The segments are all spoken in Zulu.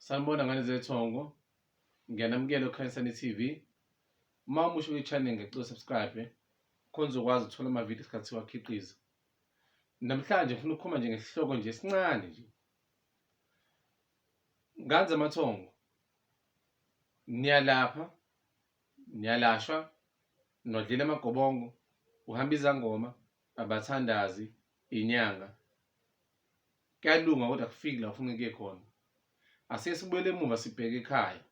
Sanibona ngane zethongo. Ngiyanamukela oKhanyisani TV. Uma umusha kwi-channel ngicela subscribe khona uzokwazi ukuthola amavidiyo isikhathi siwakhiqiza. Namhlanje ngifuna ukukhuluma nje ngesihloko nje esincane nje. Ngane zamathongo. Niyalapha, niyalashwa, nodlela amagobongo, uhamba izangoma, abathandazi, inyanga. Kuyalunga kodwa kufiki la ufuna kuye khona. Asike sibuyele emuva sibheke ekhaya.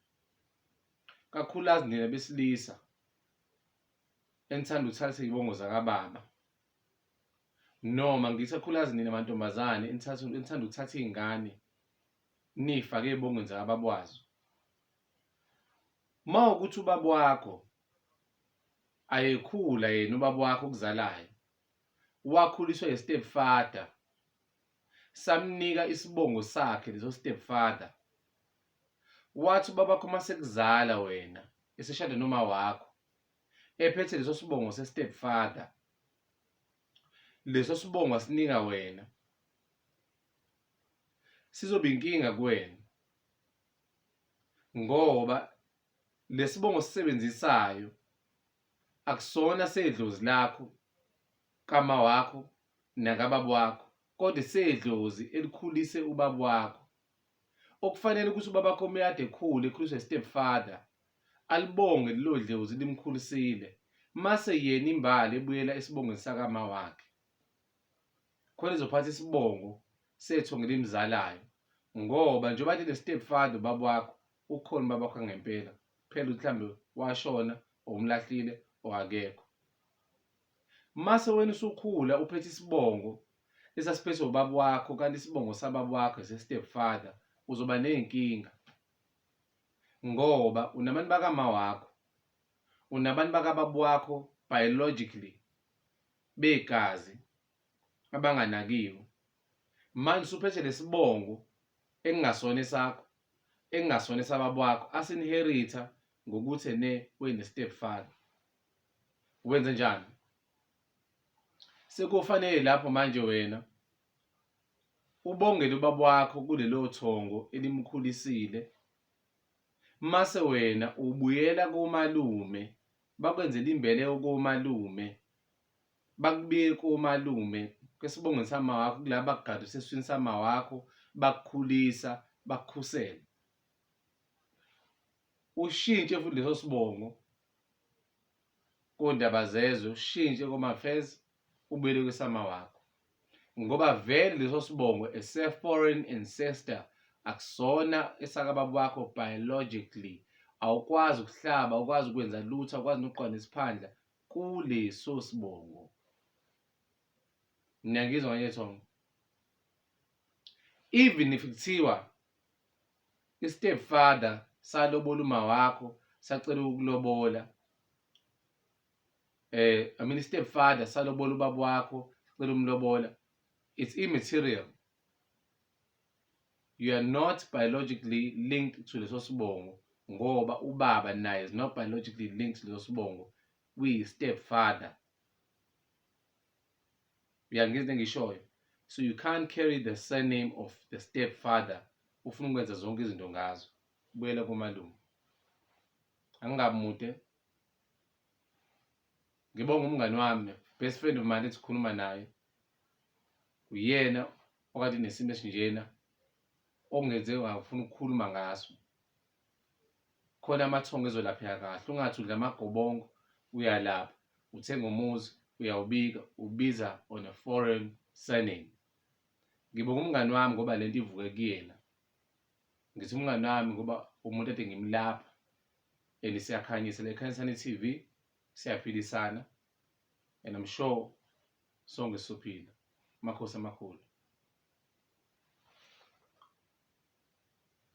Kakhulukazi nina besilisa enithanda ukuthatha izibongo zakababa. Noma ngithi kakhulukazi nina mantombazane enithatha enithanda ukuthatha izingane nifake ezibongweni zakababa wazo. Uma ukuthi ubaba wakho ayekhula yena ubaba wakho okuzalayo wakhuliswa yi step father samnika isibongo sakhe leso step father wathi ubabakho masekuzala wena eseshade noma wakho ephethe leso sibongo se step father leso sibongo asinika wena sizoba inkinga kuwena ngoba lesibongo sisebenzisayo akusona sedlozi lakho kama wakho nakababa wakho kodwa sedlozi elikhulise ubaba wakho okufanele ukuthi ubaba wakho umyade ekhulu ekhuliswe step father alibonge lelo dlozi limkhulisile mase yena imbali ebuyela esibongweni sakama wakhe khona izophatha isibongo sethu ngelimzalayo ngoba njengoba lile step father ubaba wakho ukhona ubaba wakho ngempela phela ukuthi mhlambe washona or umlahlile or akekho mase wena usukhula uphethe isibongo esasiphethe ubaba wakho kanti isibongo sababa wakho se-step father uzoba ney'nkinga ngoba unabantu bakama wakho unabantu bakababa wakho biologically begazi abanganakiwe manje usuphethe lesibongo engingasona esakho ekungasona esababa wakho asinheritha ngokuthi ene wene step father wenze njani sekufanele lapho manje wena ubongele ubaba wakho kulelo thongo elimkhulisile mase wena ubuyela komalume bakwenzela imbele yokomalume bakubeke komalume kwesibongweni samawakho kula bakugada useswini samawakho bakukhulisa bakukhusela ushintshe futhi leso sibongo kondaba zezwe ushintshe komafez ubuyele kwesama wakho ngoba vele leso sibongo ese foreign ancestor akusona esakababa wakho biologically awukwazi ukuhlaba ukwazi ukwenza lutho awukwazi nokuqonda isiphandla kuleso sibongo niyangizwa ngeke thongo even if kuthiwa i-step father salobola uma wakho sacela ukulobola eh i mean step father salobola ubaba wakho sacela umlobola it's immaterial you are not biologically linked to leso sibongo ngoba ubaba naye is not biologically linked to leso sibongo kuyi-step father uyangizwa engishoyo so you can't carry the surname of the step father ufuna ukwenza zonke izinto ngazo buyela komalume angingabi mude ngibonga umngani wami best friend of mine ethi khuluma naye uyena okade nesimo esinjena okungenze ngafuna ukukhuluma ngaso khona amathongo ezolapheka kahle ungathi udla amagobongo uyalapha uthenga umuzi uyawubika ubiza on a foreign surname ngibonga umngani wami ngoba lento ivuke kuyena ngithi umngani wami ngoba umuntu ade ngimlapha and siyakhanyisa lekhanyisana i-TV siyaphilisana and I'm sure sonke sisophila amakhosi amakhulu